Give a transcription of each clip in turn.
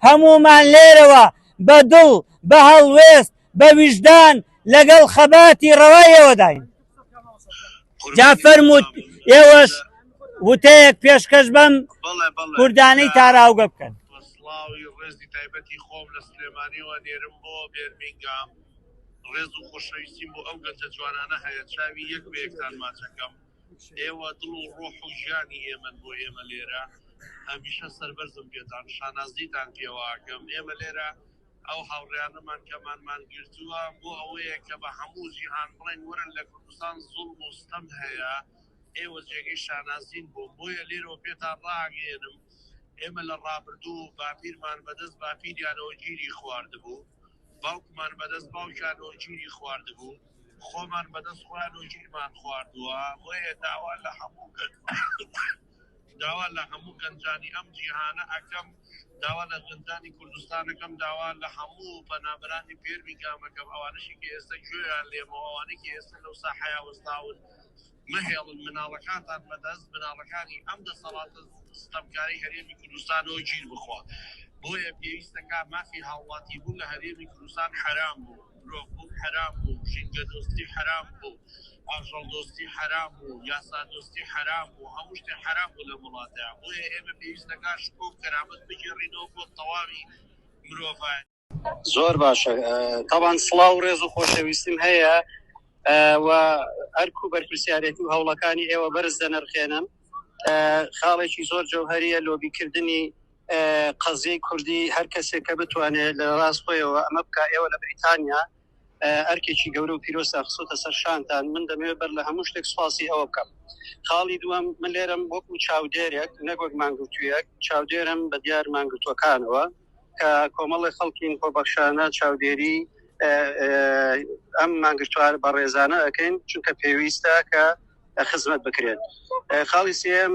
هەموومان لێرەوە بە دڵ، بە هەڵوێست، بە ویژدان لەگەڵ خەباتی ڕەوای ئێوەداین. جا فەرموو ئێوەش وتەیەک پێشکەش بەم کوردانەی تاراوگە بکەن. بە سڵاوی ڕێزی تایبەتی خۆم لە سلێمانیەوە نێرم بۆ بێرمینگام، ڕێز و خۆشەویستیم بۆ ئەو گەنجە جوانانە هەیە، چاوی یەک بە یەکتان ماچ ئەکەم. ئێوە دڵ و ڕۆح و ژیانی ئێمەن بۆ ئێمە لێرە هەمیشە سەربەرزم پێتان شانازیتان پێواکەم ئێمە لێرە ئەو هاوڕیانەمان کەمانمان گرتووە بۆ ئەوەیە کە بە هەموو جیهان بڵێن وەرن لە کوردستان زوڵ مستەم هەیە ئێوە جێگەی شانازین بۆ بۆیە لێرەوە پێتان ڕاگەێنم ئێمە لە ڕابردوو و باپیرمان بەدەست باپیریانەوە گیری خواردبوو باوکمان بەدەست باوکیانەوە گیری خواردبوو خۆمان بەدەست خۆیان و ژیرمان خواردووە بۆیە داوا لە هەموو گەنج داوا لە هەموو گەنجانی ئەم جیهانە ئەکەم داوا لە گەنجانی کوردستانەکەم داوا لە هەموو پەنابرانی پێرمی گامەکەم ئەوانەشی کە ئێستا گوێیان لێمەوە ئەوانەی کە ئێستا لەو ساحەیە وەستاون مەهێڵن مناڵەکانتان بەدەست بناغەکانی ئەم دەسەڵاتە ستەمکارەی هەرێمی کوردستانەوە گیر بخوا. بۆیە پێویستە کا مافی هاوڵاتی بوون لە هەرێمی کوردستان حەرام بوو، مرۆڤ بوون حەرام بوو، ژینگە دۆستی حەرام بوو، ئاژەڵ دۆستی حەرام بوو، یاسا دۆستی حەرام بوو، هەموو شتێ حەرام بوو لەم وڵاتە. بۆیە ئێمە پێویستە کا شکۆ و کەرامەت بگێڕینەوە بۆ تەواوی مرۆڤایەتی. زۆر باشە تاوان سڵاو و ڕێز و خۆشەویستیم هەیە و ئەرک و بەرپسیارێتی و هەوڵەکانی ئێوە بەرز دەنرخێنم خاڵێکی زۆر جەوهریە لۆبیکردنی قەزیی کوردی هەر کەسێک کە بتوانێت لە ڕاست خۆیەوە ئەمە بک ئێوە لە بریتانیا ئەرکێکی گەورە و پیرۆستا خسۆتە سەر شانتان من دەمەوێت بەر لە هەموو شتێک سوپاسی ئەوە بکەم خاڵی دووەم من لێرم وەکو چاودێرێک نەگوەک مانگوتویەک چاودێرم بە دیار مانگرتوەکانەوە کە کۆمەڵی خەڵکین خۆبەخشانە چاودێری ئەم مانگرتوار بە ڕێزانە ئەەکەین چونکە پێویستە کە خزمەت بکرێت خاڵی سم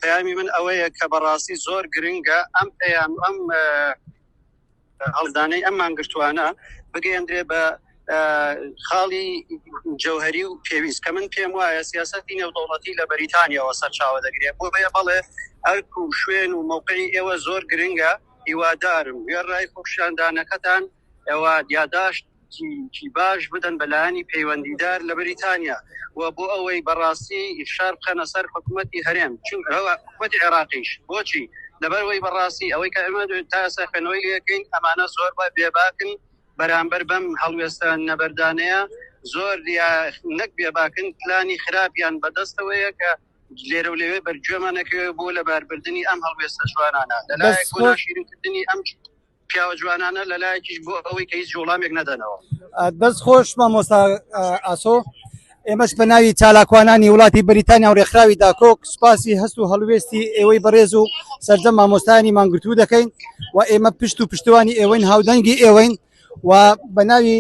پەیامی من ئەوەیە کە بەڕاستی زۆر گرنگە ئەم پەیام ئەم هەڵدانەی ئەم مانگرتوانە بگەیەندرێ بە خاڵی جەوهری و پێویست کە من پێم وایە سیاستی نێودوڵەتی لە بەریتانیەوە سەرچاوە دەگرێت بۆ بەیە بەڵێ ئەرک و شوێن و موقعی ئێوە زۆر گرنگە هیوادارم وێڕای خۆشاندانەکەتان ئەوە یاداشت کی باش بدەن بەلایانی پەیوەندیدار لە بەریتانیا و بۆ ئەوەی بەڕاستی شار بخەنە سەر حکوومەتتی هەرێم چون ئەوە حکوومەت عێراقیش بۆچی لەبەرەوەی بەڕاستی ئەوەی کە ئەمە تاسە خوێنەوەی لەکەین ئەمانە زۆر بە بێباکن بەرامبەر بەم هەڵوێستە نەبەردانەیە زۆر یا نەک بێباکن پلانی خراپیان بەدەستەوەیە کە لێرە و لەوێ بەرگوێمان نەکەوێت بۆ لەباربردننی ئەم هەڵوێستە جوانانە لەلایەک بۆ ناشیرکردنی ئەم پیاوە جوانانە لەلایەکیش بۆ ئەوەی کە هیچ جوڵامێک نەدەنەوە دەست خۆش مامۆستا ئاسۆ ئێمەش بە ناوی چالاکوانانی وڵاتی بریتانیا و ڕێکخراوی داکۆک سوپاسی هەست و هەڵوێستی ئێوەی بەڕێز و سەرجەم مامۆستایانی مانگرتوو دەکەین و ئێمە پشت و پشتوانی ئێوەین هاودەنگی ئێوەین و بە ناوی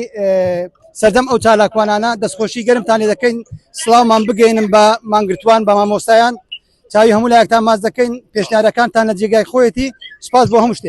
سەردەم ئەو چالاکوانانە دەستخۆشی گەرمتان لێ دەکەین سلااومان بگەینم بە مانگرتوان بە مامۆستایان چاوی هەموو لایەکتان ماز دەکەین پێشنارەکانتان لە جێگای خۆیەتی سپاس بۆ هەم شتێ